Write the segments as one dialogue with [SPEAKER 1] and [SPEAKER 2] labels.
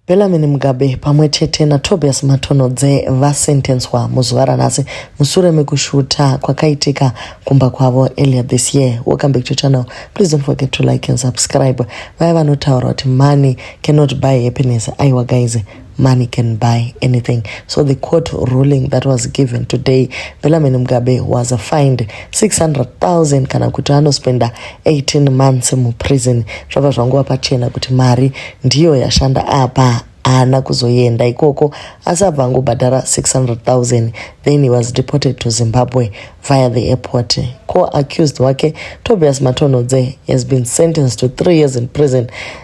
[SPEAKER 1] Bellarmine Mugabe pamwe chete naTobias Matonhodze vasentenswa muzuva ranhasi musure mekushuta kwakaitika kumba kwavo earlier this year. Welcome back to channel. Please don't forget to like and subscribe. Vaya vanotaura kuti money cannot buy happiness. Aiwa guys, money can buy anything. So the court ruling that was given today, Bellarmine Mugabe was fined 600,000 kana kuti anospenda 18 months muprison zvabva zvangova pachena kuti mari ndiyo yashanda apa haana kuzoenda ikoko asi abva angobhadhara 600000 then he was deported to zimbabwe via the airport co-accused wake tobias matonhodze has been sentenced to three years in prison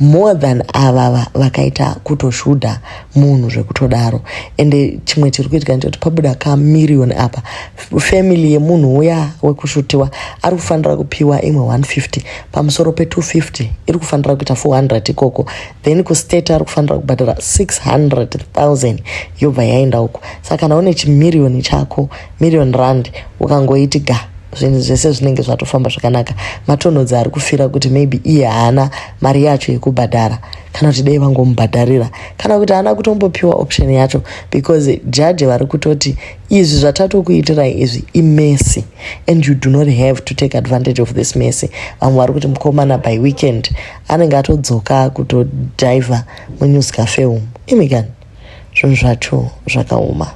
[SPEAKER 1] more than avava vakaita kutoshuda munhu zvekutodaro ende chimwe chiri kuitika ndechekuti pabuda kamirioni apa family yemunhu uya wekushutiwa ari kufanira kupiwa imwe 150 pamusoro pe250 iri kufanira kuita 400 ikoko then kustate ari kufanira kubhadhara 600000 yobva yaenda uko saka kana une chimirioni chako million rand ukangoiti ga zvinhu zvese zvinenge zvatofamba zvakanaka matonhodzi ari kufira kuti maybe iye haana mari yacho yekubhadhara kana kuti dei vangomubhadharira kana kuti haana kutombopiwa option yacho because jaji vari kutoti izvi zvatatokuitirai izvi imessy and you do not have to take advantage of this messy vamwe vari kuti mukomana by weekend anenge atodzoka kutodhivha munews cafe umu imikani zvinhu zvacho zvakaoma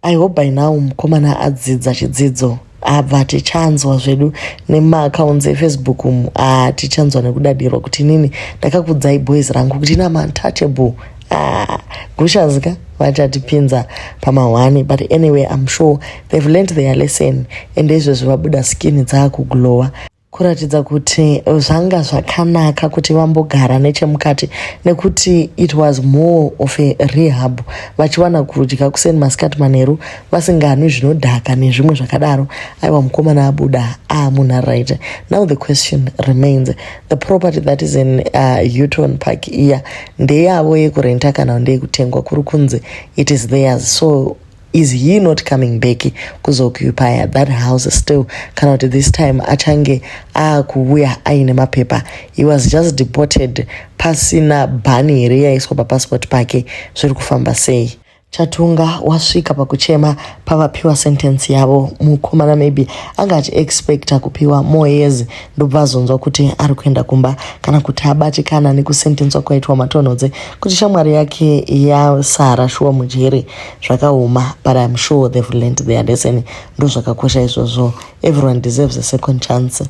[SPEAKER 1] I hope by now mukomana adzidza chidzidzo abva tichanzwa zvedu nemaacounts efacebook umu ah, tichanzwa nekudadirwa kuti inini ndakakudzai boys rangu kuti ina mantouchable ah, gushazika vachatipinza pamahwani but anyway im sure they've learnt their lesson ende izvezvi vabuda skin dzaakuglowa kuratidza kuti zvanga zvakanaka kuti vambogara nechemukati nekuti it was more of a rehab vachiwana kudya kuseni masikati manheru vasinganwi zvinodhaka nezvimwe zvakadaro aiwa mukomana abuda aa ah, munhu aright now the question remains the property that is in uh, uton park iya ndeyavo yekurenta kana ndeyekutengwa kuri kunzi it is theirs so is he not coming back kuzokuipaya that house still kana kuti this time achange akuuya aine mapepa he was just deported pasina bhani here yaiswa papassport pake zviri kufamba sei chatunga wasvika pakuchema pavapiwa sentence yavo mukomana maybe anga achiexpecta kupiwa more years ndobva azonzwa kuti ari kuenda kumba kana kuti abatikana nekusentenswa kwaitwa matonhodze kuti shamwari yake yasara shuwa mujere zvakaoma but im sure they've learnt their lesson ndozvakakosha izvozvo everyone deserves a second chance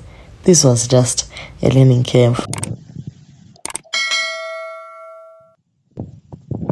[SPEAKER 1] this was just a learning curve